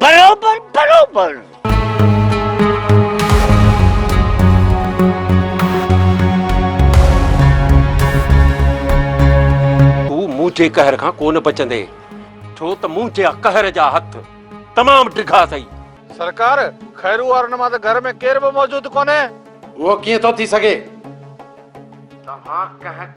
برابر برابر. تون منهنجي قهر کان ڪونه بچندين ڇو ته منهنجي قهر جا هٿ تمام ڊگها اٿئي. سرڪار! خيرو وارن مان ته گهر ۾ ڪير به موجود ڪونهي. اهو ڪيئن ٿو ٿي سگهي؟ توهان ڪنهن.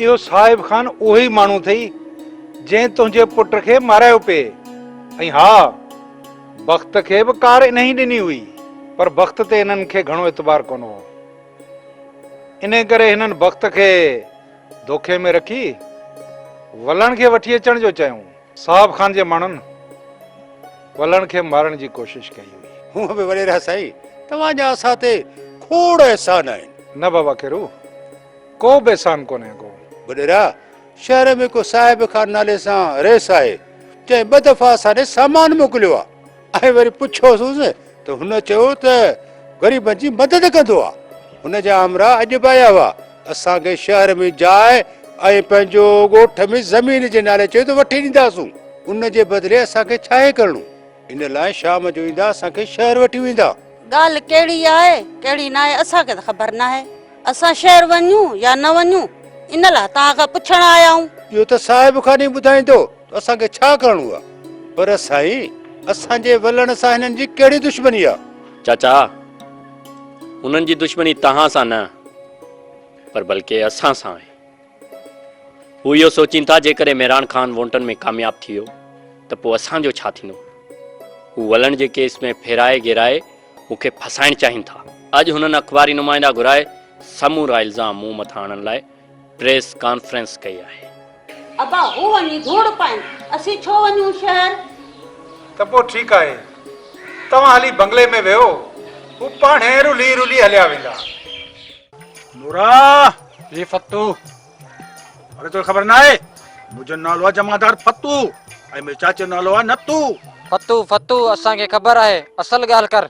اهو صاحب خان اهو ئي ماڻهو اٿئي، جنهن تنهنجي پٽ کي مارايو پئي. ۽ ها، بخت کي به ڪار انهيء ڏني هئي، پر بخت تي هنن کي گهڻو اعتبار ڪونه هو. انهيء ڪري هنن بخت کي دوکي ۾ رکي، ولڻ کي وٺي اچڻ جو چيائون. صاحب خان جي ماڻهن ولڻ کي مارڻ جي ڪوشش ڪئي هئي. هونء به وڏيرا سائين، توهان جا اسان تي کوڙ احسان آهن. نه بابا کيرو! ڪو به احسان ڪونهي ڪو. وڏيرا! شهر ۾ ڪو صاحب خان نالي سان رئيس آهي، جنهن ٻه دفعا اسان ڏي سامان موڪليو آهي ۽ وري پڇيوسونس ته هن چيو ته غريبن جي مدد ڪندو آهي. هن جا همراهه اڄ به آيا هئا، اسان کي شهر ۾ جاء ۽ پنهنجو ڳوٺ ۾ زمين جي نالي چيو ته وٺي ڏينداسون، ان جي بدلي اسان کي ڇاهي ڪرڻو؟ ان لاء شام جو ايندا اسان کي شهر وٺي ويندا. ڳالهه ڪهڙي آهي ڪهڙي ناهي اسان کي ته خبر ناهي اسان شهر وڃون يا نه وڃون ان لاء توهان کان پڇڻ آيا آهيون. اهو ته صاحب خان ئي ٻڌائيندو ته اسان کي ڇا ڪرڻو آهي پر سائين اسان جي ولڻ سان هنن جي ڪهڙي دشمني آهي. چاچا هنن جي دشمني توهان سان نه پر بلڪه اسان سان آهي. هو اهو سوچين ٿا جيڪڏهن مهراڻ خان وونٽن ۾ ڪامياب ٿي ويو ته پوء اسان جو ڇا ٿيندو؟ هو ولڻ جي ڪيس ۾ ڦيرائي گيرائي مون کي ڦاسائڻ چاهين ٿا. اڄ هنن اخباري نمائندا گهرائي سمورا الزام مون مٿان هڻڻ لاء پريس ڪانفرنس ڪئي آهي. ابا هو وڃي ڌوڙ پائين اسين ڇو وڃون شهر. ته پوء ٺيڪ آهي توهان هلي بنگلي ۾ ويهو هو پاڻهي رلي رلي هليا ويندا. نورا! هي فتو! اڙي توکي خبر ناهي؟ منهنجو نالو آ جمعدار فتو ۽ منهنجي چاچي جو نالو آ نتو. فتو فتو اسان کي خبر آهي اصل ڳالهه ڪر.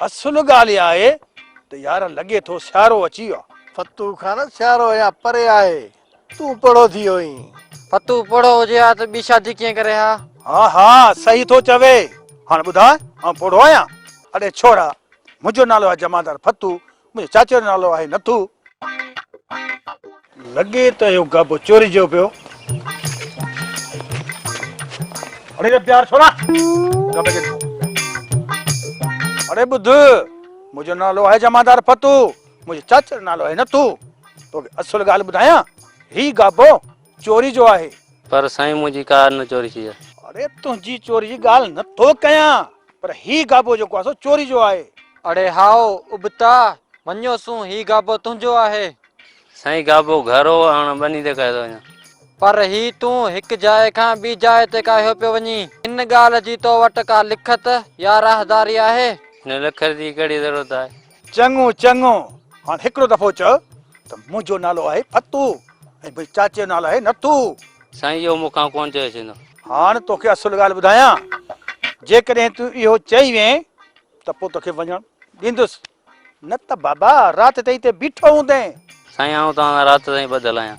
اصل ڳالهه اها آهي ته يار لڳي ٿو سيارو اچي ويو آ. فتو خان سيارو اڃا پري آهي تون پوڙهو ٿي ويو اهين. فتو پوڙهو هجي ها ته ٻي شادي ڪيئن ڪري ها. ها ها صحيح ٿو چوي هاڻ ٻڌاء آئون پوڙهو آهيان. اڙي ڇورا! منهنجو نالو آ جمعدار فتو منهنجي چاچي جو نالو آهي نٿو. لڳي ته اهو گهبو چوري جو پيو. اڙي ري پيار ڇوڙا گهبي کي. اڙي ٻڌ منهنجو نالو آهي جمعدار فتو منهنجي چاچي جو نالو آهي نٿو. توکي اصل ڳالهه ٻڌايان هي گهبو. چوري جو آهي. پر سائين منهنجي ڪا نه چوري ٿي آهي. اڙي تنهنجي چوري جي ڳالهه نه ٿو ڪيان پر هي گابو جيڪو آهي سو چوري جو آهي. اڙي هائو ابتا مڃيو سون هي گابو تنهنجو آهي. سائين گابو گهر هو هاڻ ٻني تي ڪاهيو ٿو وڃان. پر هي تون هڪ جاء کان ٻي جاء تي ڪاهيو پيو وڃين. ان ڳالهه جي تو وٽ ڪا لکت يا راهداري آهي؟ نه لکت جي ڪهڙي ضرورت آهي. چڱو چڱو هاڻ هڪڙو دفعو چئو ته منهنجو نالو آهي فتو ۽ بي چاچي جو نالو آهي نٿو. سائين اهو مون کان ڪونه چيو سيندو. هاڻ توکي اصل ڳالهه ٻڌايان جيڪڏهن تون اهو چئي وئين ته پوء توکي وڃڻ ڏيندس نه ته بابا رات تائين هتي بيٺو هوندين. سائين آئون توهان سان رات تائين ٻڌل آهيان.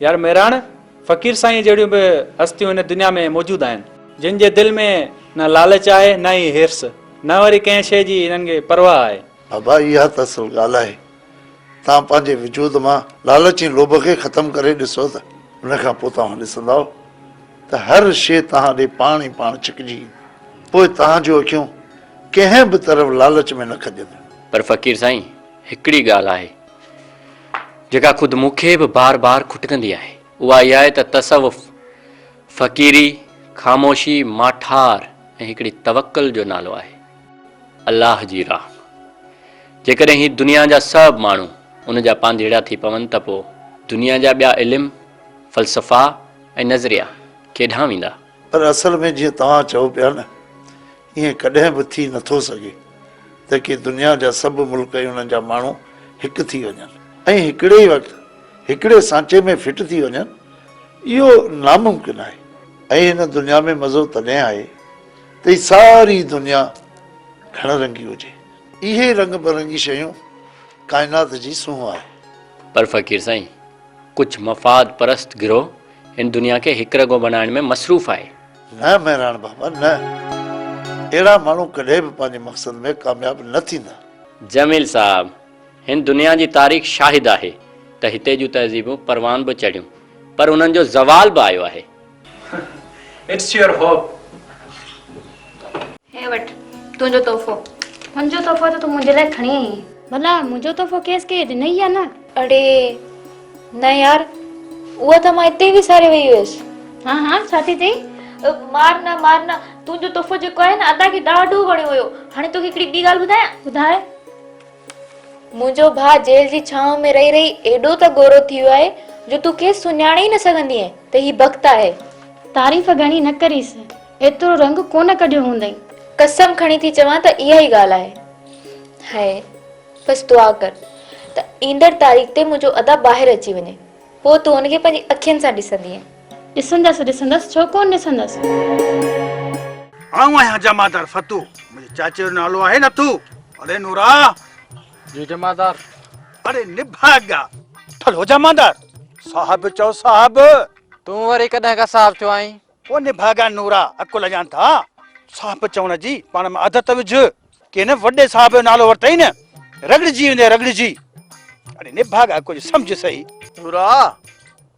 يار مهراڻ، فقير سائينء جهڙيون به هستيون هن دنيا ۾ موجود آهن. جن جي دل ۾ نه لالچ آهي نه ئي حرص، نه وري ڪنهن شيء جي هنن کي پرواهه آهي. بابا اها ته اصل ڳالهه آهي. توهان پنهنجي وجود مان لالچ ۽ لوڀ کي ختم ڪري ڏسو ته. ان کان پوء توهان ڏسندؤ ته هر شيء توهان ڏي پاڻ ئي پاڻ ڇڪجي ايندي. پوء توهان جون اکيون ڪنهن به طرف لالچ ۾ نه کڄنديون. پر فقير سائين، هڪڙي ڳالهه آهي. جيڪا خود مون کي به بار بار کٽڪندي آهي، اها اها آهي ته تصوف، فقيري، خاموشي، ماٺار ۽ هڪڙي توڪل جو نالو آهي. الله جي راهه ۾، جيڪڏهن هي دنيا جا سڀ ماڻهو ان جا پانڌيئڙا ٿي پون ته پوء دنيا جا ٻيا علم، فلسفا ۽ نظريا ڪيڏانهن ويندا؟ پر اصل ۾ جيئن توهان چئو پيا نه ائين ڪڏهن به ٿي نه ٿو سگهي ته ڪي دنيا جا سڀ ملڪ ۽ انهن جا ماڻهو هڪ ٿي وڃن ۽ هڪڙي ئي وقت هڪڙي سانچي ۾ فٽ ٿي وڃن، اهو ناممڪن آهي ۽ هن دنيا ۾ مزو تڏهن آهي ته هي ساري دنيا گهڻ رنگي هجي. اهي ئي رنگ برنگي شيون ڪائنات جي سونهن آهي. پر فقير سائين، ڪجهه مفاد پرست گروهه هن دنيا کي هڪرڳو بنائڻ ۾ مصروف آهي. نه مهراڻ بابا نه. اهڙا ماڻهو ڪڏهن به پنهنجي مقصد ۾ ڪامياب نه ٿيندا. جميل صاحب! هن دنيا جي تاريخ شاهد آهي ته هتي جون تهذيبون پروان به چڙهيون پر انهن جو زوال به آيو آهي. It's your hope. هي وٺ تنهنجو تحفو. تنهنجو تحفو ته تون منهنجي لاء کڻي آئي آهين. ڀلا منهنجو تحفو کيس ڪنهن ڏنئي يا نه؟ اڙي! نه يار اها ته مان اتي وساري وئي هيس. ها ها ڇا ٿي چئي؟ مار نه مار نه تنهنجو تحفو جيڪو آهي نه ادا کي ڏاڍو وڻيو هيو هاڻي توکي هڪڙي ٻي ڳالهه ٻڌايان؟ ٻڌاء. منهنجو ڀاء جيل جي ڇانو ۾ رهي رهي ايڏو ته گورو ٿي ويو آهي جو تون کيس سڃاڻي ئي نه سگهندينء ته هي بخت آهي. تعريف گهڻي نه ڪريس ايترو رنگ ڪونه ڪڍيو هوندئين. قسم کڻي ٿي چوان ته اها ئي ڳالهه آهي. هيء. بس دعا ڪر ته ايندڙ تاريخ تي منهنجو ادا ٻاهر اچي وڃي. پوء تون هن کي پنهنجي اکين سان ڏسندينء. ڏسندس ڏسندس ڇو ڪونه ڏسندس. آئون آهيان جمعدار فتو. منهنجي چاچي جو نالو آهي نٿو. اڙي نورا! جي جمعدار. اڙي نڀاڳا! ٺل هو جمعدار! صاحب چئو صاحب! تون وري ڪڏهن کان صاحب ٿيو آهين؟ او نڀاڳا نورا اڪل اڄان ٿا صاحب چوڻ جي پاڻ ۾ عادت وجھ ڪي نه وڏي صاحب جو نالو ورتئي نه رڳڙجي ويندي رڳڙجي اڙي نڀاڳا ڪجھ سمجھ سهي نورا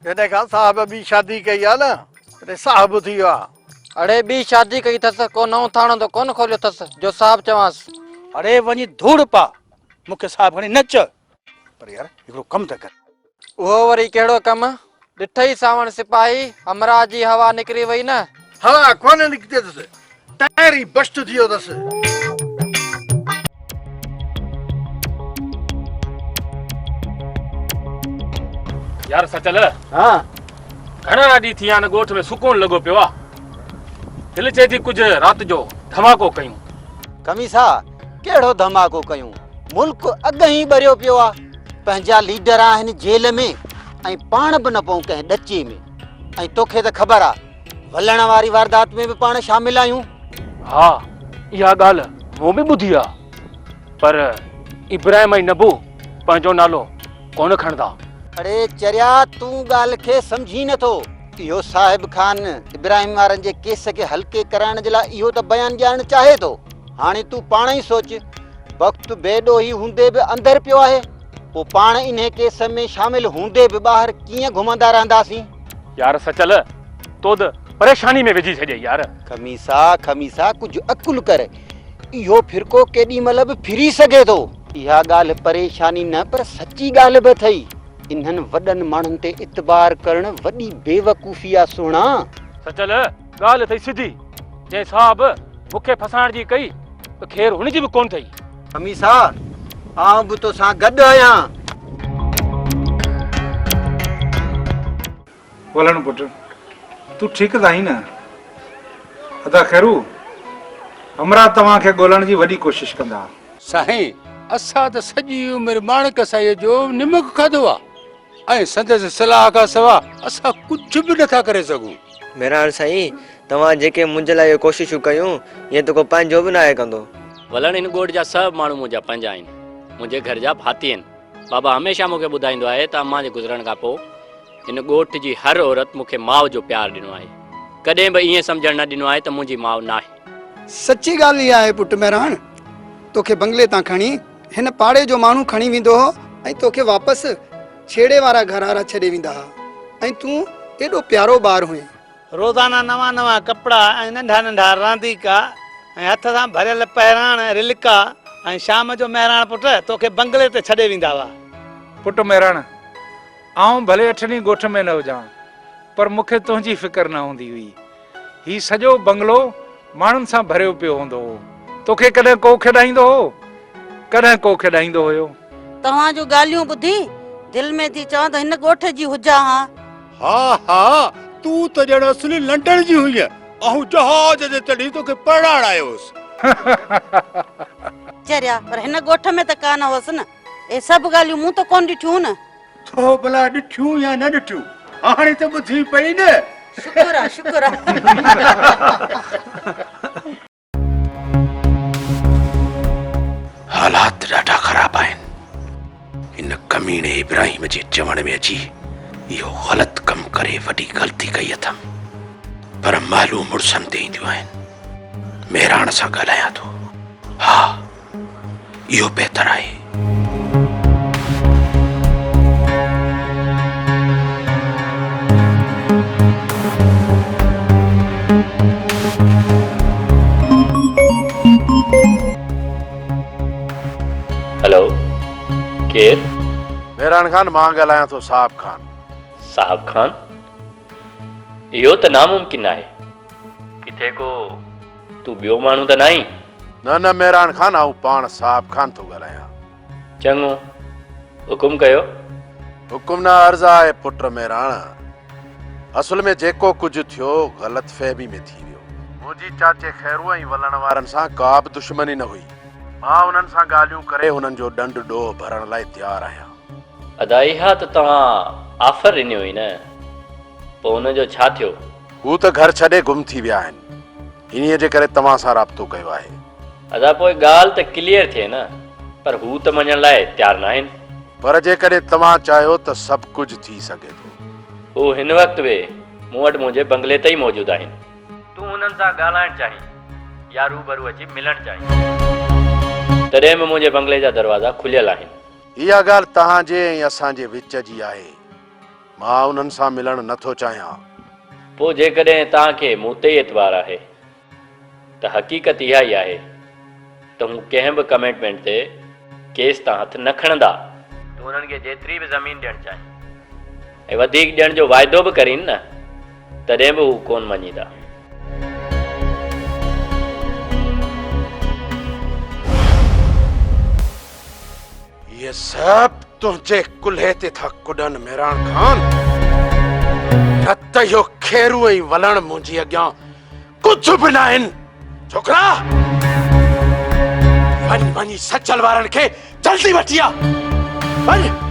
جڏهن کان صاحب ٻي شادي ڪئي آ نه تڏهن صاحب ٿي ويو آ اڙي ٻي شادي ڪئي ٿس ڪو نئون ٿاڻو ته ڪون کوليو ٿس جو صاحب چوانس. اڙي وڃي ڌوڙ پا مونکي صاحب کڻي نه چئه. پر يار هڪڙو ڪم ته ڪر. اهو وري ڪهڙو ڪم؟ ڏٺئي ساوڻ سپاهي همراهه جي هوا نڪري وئي نه. هوا ڪونه نڪتي اٿس، ٽائر ئي بشٽ ٿي ويو اٿس. يار سچل ها گهڻا ڏينهن ٿي ويا آهن ڳوٺ ۾ سڪون لڳو پيو آهي دل چئي ٿي ڪجهه رات جو ڌماڪو ڪيون. کميسا. ڪهڙو ڌماڪو ڪيون ملڪ اڳ ئي ٻريو پيو آ پنهنجا ليڊر آهن جيل ۾ ۽ پاڻ به نه پون ڪنهن ڏچي ۾ ۽ توکي ته خبر آ ولڻ واري واردات ۾ به پاڻ شامل آهيون ها اها ڳالهه مون به ٻڌي آ پر ابراهيم ۽ نبو پنهنجو نالو ڪونه کڻندا. اڙي چريا تون ڳالهه کي سمجهين نه ٿو. اهو صاحب خان ابراهيم وارن جي ڪيس کي هلڪي ڪرائڻ جي لاء اهو ته بيان ڏيارڻ چاهي ٿو. هاڻي تون پاڻ ئي سوچ، بخت بي ڏوهي هوندي به اندر پيو آهي، پوء پاڻ انهي ڪيس ۾ شامل هوندي به ٻاهر ڪيئن گهمندا رهنداسين؟ يار سچل، تو ته پريشاني ۾ وجهي ڇڏيئي يار. خميسا، خميسا ڪجهه عقل ڪر، اهو ڦرڪو ڪيڏي مهل به ڦري سگهي ٿو. اها ڳالهه پريشاني نه پر سچي ڳالهه به اٿئي. انهن وڏن ماڻهن تي اعتبار ڪرڻ وڏي بيوقوفي آ سهڻا. سچل! ڳالهه اٿئي سڌي، جنهن صاحب مون کي ڦسائڻ جي ڪئي ته خير هن جي به ڪونه اٿئي. خميسا، آئون به توسان گڏ آهيان. ولڻ پٽ، تون ٺيڪ ته آهين نه؟ ادا خيرو، همراهه توهان کي ڳولڻ جي وڏي ڪوشش ڪندا. سائين، اسان ته سڄي عمر ماڻڪ سائيء جو نمڪ کاڌو آهي. ۽ سندس صلاح کان سوا اسان ڪجهه به نٿا ڪري سگهون. ميراڻ سائين، توهان جيڪي منهنجي لاء اهي ڪوششون ڪيون، ايئن ته ڪو پنهنجو به ناهي ڪندو. ولڻ هن ڳوٺ جا سڀ ماڻهو منهنجا پنهنجا آهن، منهنجي گهر جا ڀاتي آهن. بابا هميشه مون کي ٻڌائيندو آهي ته امان جي گذرڻ کان پوء هن ڳوٺ جي هر عورت مون کي ماء جو پيار ڏنو آهي. ڪڏهن به ائين سمجهڻ نه ڏنو آهي ته منهنجي ماء ناهي. سچي ڳالهه اها آهي پٽ ميراڻ، توکي بنگلي تان کڻي هن پاڙي جو ماڻهو کڻي ويندو هو ۽ توکي واپس ڇيڙي وارا گهرارا ڇڏي ويندا ها ۽ تون ايڏو پيارو ٻار هئين. روزانه نوان نوان ڪپڙا ۽ ننڍا ننڍا رانديڪا ۽ هٿ سان ڀريل پهراڻ، رلڪا، ۽ شام جو مهراڻ پٽ توکي بنگلي تي ڇڏي ويندا هئا. پٽ مهراڻ، آئون ڀلي اٺ ڏينهن ڳوٺ ۾ نه هجان، پر مون کي تنهنجي فڪر نه هوندي هئي. هي سڄو بنگلو ماڻهن سان ڀريو پيو هوندو هو. توکي ڪڏهن ڪو کيڏائيندو هو؟ ڪڏهن ڪو کيڏائيندو هيو؟ توهان جون ڳالهيون ٻڌي، دل ۾ ٿي چوان ته هن ڳوٺ جي هجان ها. ها ها، تون ته ڄڻ اصلي لنڊن جي هئينء. آئون جهاز تي چڙهي توکي پرڻائڻ آيو هوس. چريا، پر هن ڳوٺ ۾ ته ڪانه هوس نه. اهي سڀ ڳالهيون مون ته ڪونه ڏٺيون هون نه. ٿو ڀلا ڏٺيون يا نه ڏٺيون هاڻي ته ٻڌي پئي نه شڪر آ شڪر آ حالات ڏاڍا خراب آهن ان ڪميڻي ابراهيم جي چوڻ ۾ اچي اهو غلط ڪم ڪري وڏي غلطي ڪئي اٿم پر مالون مڙسن تي اينديون آهن مهراڻ سان ڳالهايان ٿو ها اهو بهتر آهي. هلو ڪير؟ مهراڻ خان مان ڳالهايان ٿو صاحب خان. صاحب خان اهو ته ناممڪن آهي. ڪٿي ڪو تون ٻيو ماڻهو ته ناهين؟ نه نه مهراڻ خان آئون پاڻ صاحب خان ٿو ڳالهايان. چڱو حڪم ڪيو. حڪم نه عرض آهي پٽ مهراڻ. اصل ۾ جيڪو ڪجهه ٿيو غلط فهمي ۾ ٿي ويو. منهنجي چاچي خيرو ۽ ولڻ وارن سان ڪا به دشمني نه هئي. مان انهن سان ڳالهيون ڪري انهن جو ڏنڊ ڏوهه ڀرڻ لاء تيار آهيان. ادا اها ته توهان آفر ڏني هئي نه پوء ان جو ڇا ٿيو؟ هو ته گهر ڇڏي گم ٿي ويا آهن انهيء جي ڪري توهان سان رابطو ڪيو آهي. ادا پوء ڳالهه ته ڪليئر ٿئي نه پر هو ته مڃڻ لاء تيار ناهن. پر جيڪڏهن توهان چاهيو ته سڀ ڪجهه ٿي سگهي ٿو. هو هن وقت به مون وٽ منهنجي بنگلي تي ئي موجود آهن. تون انهن سان ڳالهائڻ چاهين يا روبرو اچي ملڻ چاهين؟ تڏهن به منهنجي بنگلي جا دروازا کليل آهن. اها ڳالهه توهان جي ۽ اسان جي وچ جي آهي. مان انهن سان ملڻ نه ٿو چاهيان. پوء جيڪڏهن توهان کي مون تي ئي اعتبار آهي ته حقيقت اها ئي آهي ته هو ڪنهن به ڪميٽمينٽ تي ڪيس تان هٿ نه کڻندا. تون انهن کي جيتري به زمين ڏيڻ چاهين ۽ وڌيڪ ڏيڻ جو واعدو به ڪرين نه تڏهن به هو ڪونه مڃيندا. اهي سڀ تنهنجي ڪلهي تي ٿا ڪڏن ميراڻ خان نه ته اهو کيرو ۽ ولڻ منهنجي اڳيان ڪجهه به نه آهن ڇوڪرا وڃ وڃي سچل وارن کي جلدي وٺي آ وڃ